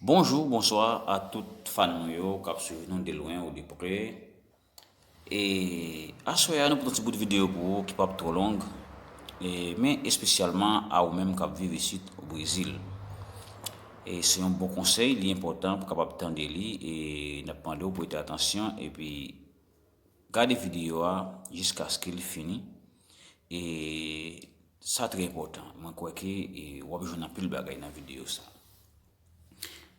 Bonjou bonswa a tout fan nou yo kap swiv nou de lwen ou de pre e aswè a nou pote yon ti bout videyo pou ou ki pap twò long e men espesyalman a ou menm kap viv isit o Brezil e se yon bon konsèy li enpòtan pou kapab tande li e nap mande ou prete atansyon epi Gade videyo a jiskaske li fini. E sa trè enpòtan. Mwen kwè ke w ap jwenn anpil bagay nan videyo sa.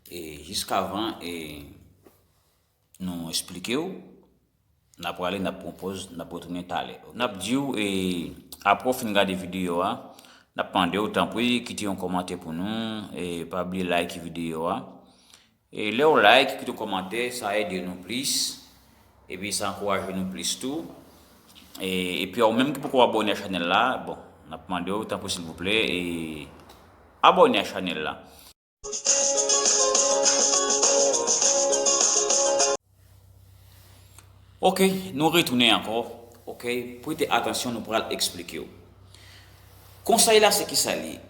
E jiskavan nou esplike w, n ap prale, n ap pran yon pòz, n ap retounen talè. N ap di w e apre w fin gade videyo a, n ap mande w tanpri kite yon kòmantè pou nou. E pa bliye layite videyo a. Lew like kite komantè sa ede nou plis epi sa ankouraje nou plis tou epi ou menm ki poko abone a chanel la bon nap mandew tanpri silvouplè abone a chanel la. Ok nou retounen ankò ok prete atansyon nou pral esplikew konsèy la se kisa li ye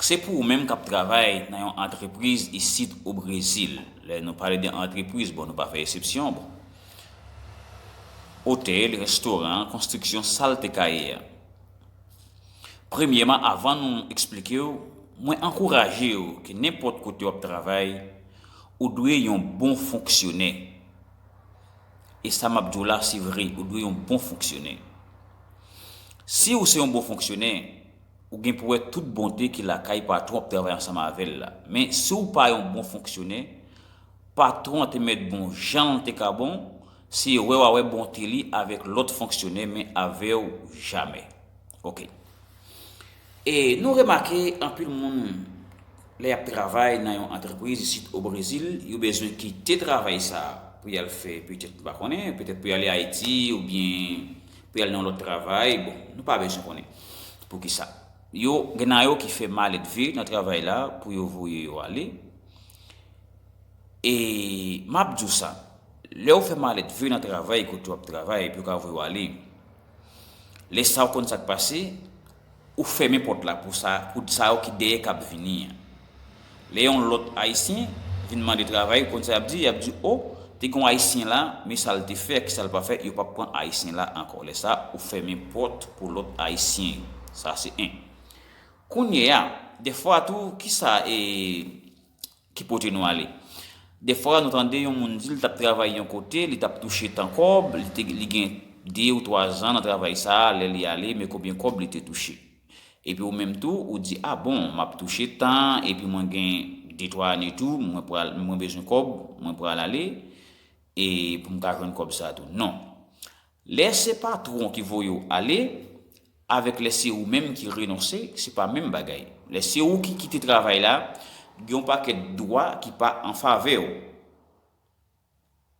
se pou ou menm kap travay nan yon antrepriz isit o brezil lè nou pale de antrepriz bon nou pa fè esepsyon bon otèl restoran konstriksyon sal te kaye a. Premyèman avan nou eksplike w, mwen ankouraje w ke nenpòt kote w ap travay, ou dwe yon bon fonksyonè. E sa m ap di w la se vre, ou dwe yon bon fonksyonè. Si ou se yon bon fonksyonè, ou gen pou wè tout bonte ki lakay patwon w ap travay ansanm avè l la. Men, si w pa yon bon fonksyonè, Patron an te mèt bon janl te ka bon, se wè wa wè bonte li avèk lòt fonksyonè men avèw jamè. Ok. E nou remake anpil moun lè yap travay nan yon antrepriz isit o Brezil, yo bezwen kite travay sa pou yal fè petèt m pa konnen, petèt pou yale Ayiti oubyen pou yal nan yon lòt travay, bon nou pa bezwen konnen poukisa. Yo gen nan yo ki fè maledve nan travay la pou yo voye yo ale. E map di w sa, lè ou fè malèt vre nan travay kote wap travay epi yo ka voye w ale, lè sa ou konn sak pase, ou fèmen pòt la pou sa yo ki dèyè kap vini an. Lè yon lòt ayisyen vin mande travay ou konn sa yap di, yap di oh te gen yon ayisyen la men sal te fè ak ki sal pa fè yo pap pran ayisyen la ankò lè sa ou fèmen pòt pou lòt ayisyen yo sa se 1. Kounyeya, dèfwa tou, ki sa e ki pote nou ale? Dèfwa nou tande yon moun di li t ap travay yon kote, li t ap touche tan kòb, li gen de ou twa zan nan travay sa a, lè li ale, men konbyen kòb li te touche. Epi ou menm tou, ou di, a bon, m ap touche tan, epi mwen gen de twa ane tou, mwen bezwen kòb, mwen pral ale, e pou m ka jwenn kòb sa a tou. Non. Lè se patwon ki voye w ale, avèk lè se ou menm ki renonse, se pa menm bagay. Lè se ou ki kite travay la, gen yon pakèt dwa ki pa an favè w.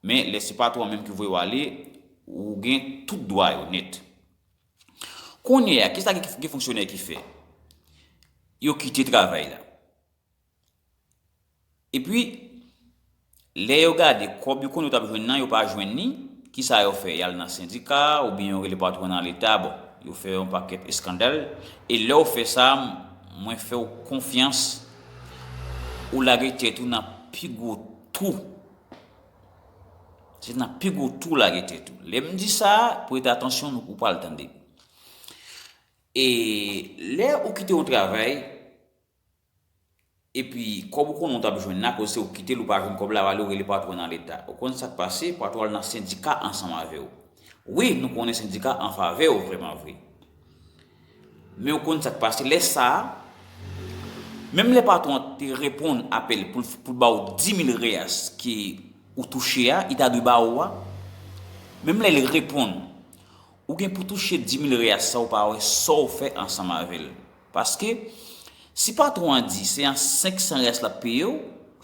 Men, lè se patwon an menm ki voye w ale, ou gen tout dwa yo nèt. Kounye a, ki sa gen fonksyonè ki fè? Yo kite travay la. Epi, lè yo gade kòb yo konnen yo t ap jwenn nan, yo pa jwenn li, ki sa yo fè? Y al nan sendika oubyen yo rele patwon nan Leta. Bon, yo fè yon pakèt eskandal. E lè w fè sa, mwen fè w konfyans, ou lage tèt ou nan pi gwo twou. Se nan pi gwo twou w lage tèt ou. Lè m di sa, prete atansyon nou, ou pral tande. E lè ou kite yon travay. Epi kòb ou konnen ou tap jwenn la akoz se ou kitel ou pa jwenn kòb la wale ou rele patron nan leta ou konn sak pase patron al nan sendika ansanm avew wi nou konnen sendika anfavew vreman vre men ou konn sak pase lè sa menm lè patron an te reponn apèl poul baw dimil reas ke ou touche a li ta dwe ba ou a menm lèl reponn ou gen pou touche dimil reas sa ou pa wè sa ou fè ansanm avèl. Paske, si patwon an di se an 500 reais l ap peye w,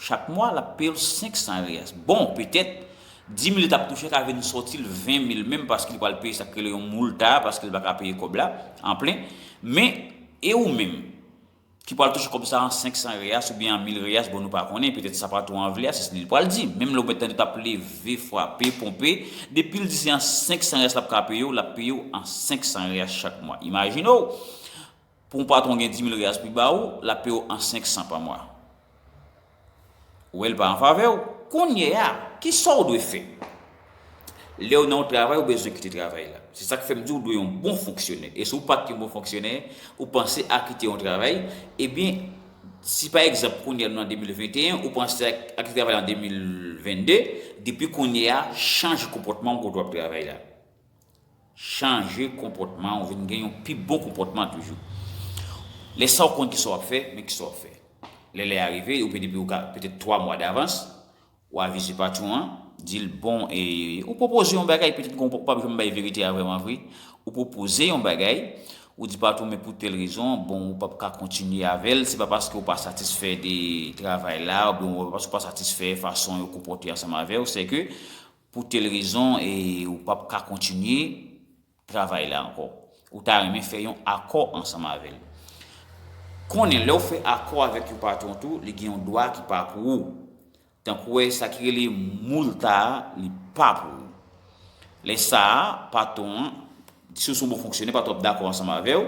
chak mwa, l ap peye w 500 reais. Bon, petèt, 10 mil li t ap touche ka vin sòti l 20 mil menm paske li pral peye sa k rele yon multa a paske l pa ka peye kòb la an plen. Men, e ou menm, ki pral touche kòb sa an 500 reais oubyen an 1000 reais, bon nou pa konnen, petèt sa patwon an vle a, se sa li pral di. Menm lè ou mèt tande t ap leve, frape, ponpe, depi l di se an 500 reais l ap ka peye w, l ap peye w an 500 reais chak mwa. Imajine w! Pou yon patron gen 10.000 reas pou ba ou, lap peye w an 500 pa mwa. Ou wè li pa an favè w. Kounye a, kisa w dwe fè? Lè w nan yon travay, ou bezwen kite travay la. Se sak fè m di w dwe yon bon fonksyonè. E si w pat yon bon fonksyonè, ou panse a kite yon travay, ebyen, si pa egzanp kounye a nou nan 2021, ou panse a kite travay la an 2022, depi kounye a, chanje konpòtman w kote w ap travay la. Chanje konpòtman ou vin gen yon pi bon konpòtman toujou. Lè sa ou konn kisa wap fè, men kisa wap fè. Lè lè a rive, ou depi ou ka petèt 3 mwa davans, ou avize patwon an, di l bon e ou pwopoze yon bagay petèt gen ou pap janm bay verite a vrèman vre, ou pwopoze yon bagay, ou di patwon men pou tèl rezon, bon ou pap ka kontinye avè l, se pa paske ou pa satisfè de travay la, oubyen paske ou pa satisfè fason yo konpòte ansanm avè w, sè ke Pou tel rezon e ou pap ka kontinye travay la ankò. Ou ta renmen fè yon akò ansanm avè l. Konnen lè ou fè akò avèk yon patwon tou, li gen yon dwa ki pa pou ou. Tankou wè sa ki rele moulta a, li pa pou ou. Lè sa a, patwon an, si ou se yon bon fonksyonè, patwon an ap dakò ansanm avè ou,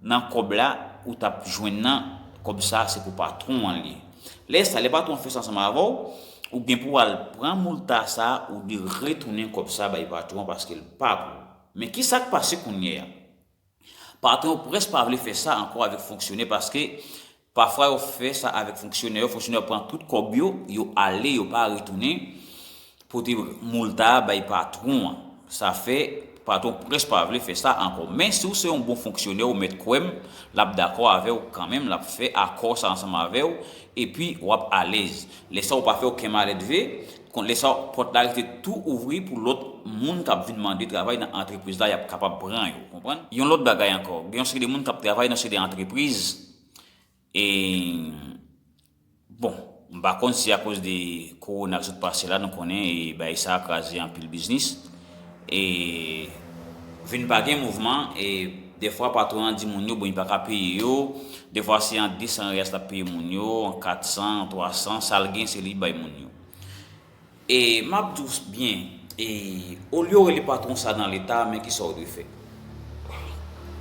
Nan kòb la ou tap jwenn nan, kòb sa se pou patron an li. Lè sa, lè patron an fè sa ansanm avèw, ou gen pou al pran moulta sa ou dwe retounen kòb sa bay patron an paskel pa pou ou. Men kisak pase kounyea? Patron yo prèsk pa vle fè sa ankò avèk fonksyonè paske Pafwa yo fè sa avèk fonksyonè yo, fonksyonè yo pran tout kòb yo, yo ale yo pa retounen pote moulta a bay patwon an. Sa fè patwon prèske pa vle fè sa ankò. Men si ou se yon bon fonksyonè ou mèt kwè m, l ap dakò avè w kanmenm, l ap fè akò sa ansanm avè w epi w ap alèz. Lè sa ou pa fè oken malèdve, kont lè sa pòt la rete tou ouvri pou lòt moun k ap vin mande travay nan antrepriz la y ap kapab pran yo, ou konprann. Yon lòt bagay ankò, gen yon seri de moun k ap travay nan seri de antrepriz Bon, m pa konn si akoz de kowona k sot pase la, nou konnen bagay sa kraze anpil biznis, e vin pa gen mouvman, e defwa patwon an di moun yo bon li pa ka peye yo, defwa se an 200 reyas l ap peye moun yo, an 400, an 300, sa l gen se li bay moun yo. E m ap di w byen, e olye w rele patwon sa nan Leta, men kisa w dwe fè.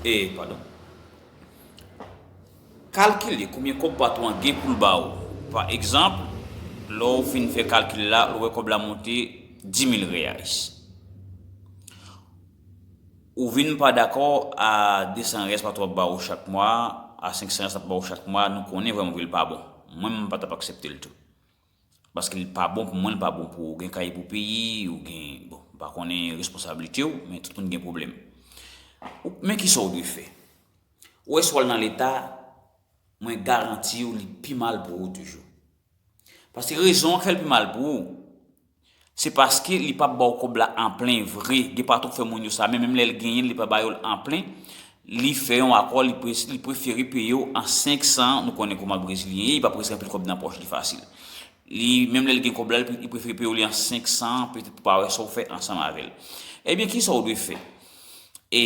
E, padon. Kalkile konbyen kòb patwon an gen pou l ba ou. Pa egzanp, lè w fin fè kalkil la, ou wè kòb la monte dimil reyals. Ou vin pa dakò a desan reyals patwon an ap ba ou chak mwa, a senk san reyals l ap ba ou chak mwa, nou konnen vrèmanvre l pa bon. Mwen menm m pa t ap aksepte l tou. Paske li pa bon pou mwen li pa bon pou ou gen kay pou peye ou gen bon m pa konnen responsablite w men tout moun gen pwoblèm men kisa w dwe fè ou wè si w al nan leta mwen garanti w li pi mal pou ou toujou paske rezon k fè l pi mal pou ou Se paske li pap baw kob la an plen vre, gen patwon k fè moun yo sa, men menm lèl genyen l li pa ba yo l an plen, li fè yon akò li prefere peye w an 5 san, nou konnen kouman brezilyen ye, li pa prese anpil kob nan pòch li fasil. Li menm lèl gen kob la li prefere peye w li an 5 san, petèt pou pa wè sa w fè ansanm avè l. Ebyen kisa w dwe fè? E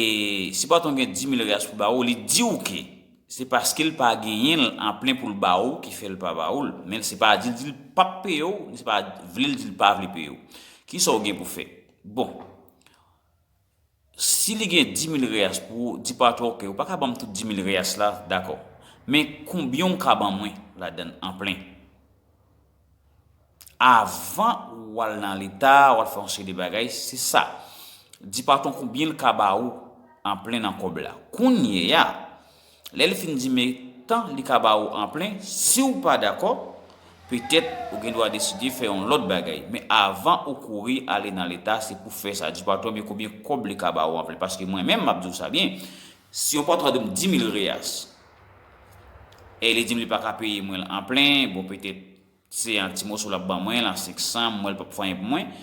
si patwon gen 10 mil reais pou ba ou, li diw ke. Se paske l pa genyen l an plen pou l ba ou ki fè l pa ba ou l. Men se pa di l di l pap peye w, ni se pa vle l di l pa vle peye w. Kisa w gen pou fè? Bon, si li gen dimil reyas pou ou, di patwon ou, ok, ou pa ka ban m tout dimil reyas la, dakò. Men konbyen ou ka ban mwen ladan l an plen? Avan ou al nan leta, ou al fè yon seri de bagay, se sa. Di patwon konbyen l ka ba ou anplen nan kòb la. Kounye a, lè li fin di men tan li ka ba ou anplen, si ou pa dakò, petèt ou gen dwa deside fè yon lòt bagay. Men avan ou kouri ale nan leta, se pou fè sa. Di patwon w men konbyen kòb li ka ba ou anplen. Paske mwen menm, m ap di ou sa byen, si yon patwon di m 10 mil reyas, E li dim li paka peye mwen l an plen, bon petèt se an ti moso lap ban mwen l an 500, mwen l pap fè anyen pou mwen.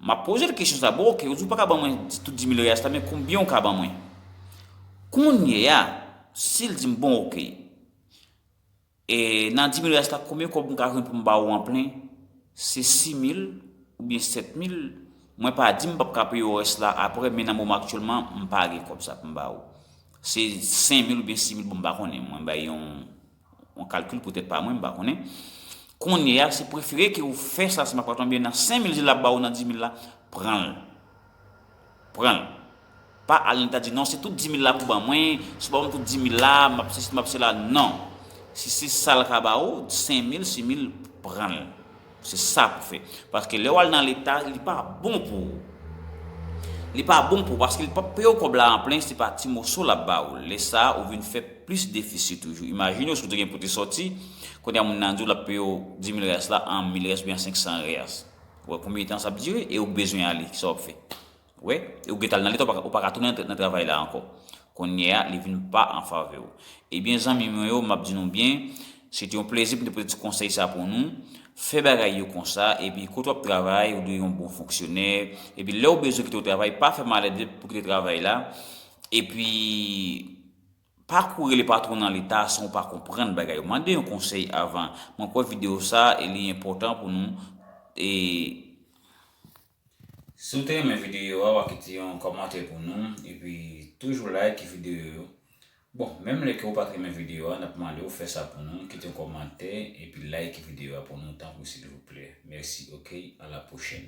Map poze l kesyon sa, bon ok ou di w paka ban mwen tout 10000 reyas la men konbyen ou ka ban mwen? Kounye a, si l dim bon ok, e nan 10000 reyas la konbyen kòb m ka jwenn pou m ba ou an plen? Se 6000 oubyen 7000, mwen pa di m pap ka peye w rès la aprè men nan moman aktyèlman m pa gen kòb sa pou m ba ou. Se 5 mil oubyen 6 mil bon m pa konnen mwen bay yon yon kalkil pou tèt pa mwen m pa konnen kounye a se prefere ke ou fè sa si m pa tonbe nan 5 mil si l ap ba ou nan 10 mil la pran l pran l pa al nan ta di non se tout 10 mil la pou ban mwen si w pa ban m tout 10 mil la m ap sesi m ap sela non si se sa l ka ba ou 5 mil 6 mil pran l. Se sa pou fè. Paske lè w al nan leta, li pa bon pou ou. Li pa bon pou ou paske li pap peye w kòb la anplen, se pa ti moso l ap ba ou. Lè sa a, ou vin fè plis defisi toujou. Imajine w si w te gen pou te sòti, kounye a moun nan di w l ap peye w dimil riyas la an mil riyas oubyen an senksan riyas. Ou wè konbyen tan sa ap dire e ou bezwen ale, ki sa w ap fè? Wè, ou gentan al nan leta ou paka tounen nan travay la ankò. Konnye a li vin pa an favè w. Ebyen zanmi mwen yo map di nou byen, se te yon plezi pou m te pote ti konsèy sa pou nou, fè bagay yo konsa epi kote wap travay ou dwe yon bon fonksyonè, epi lè ou bezwen kite yon travay pa fè malède pou kite travay la, epi pa kouri rele patwon nan leta san ou pa konprann bagay yo. Mande yon konsèy avan. Mwen kwè videyo sa li enpòtan pou nou e. Si w te renmen videyo a wap kite yon kòmantè pou nou epi toujou like videyo yo bon menm lè ke ou pat renmen videyo a nap mande w fè sa pou nou kite yon kòmantè epi like videyo a pou nou tanpri silvouplè mèsi ok a la pwochèn.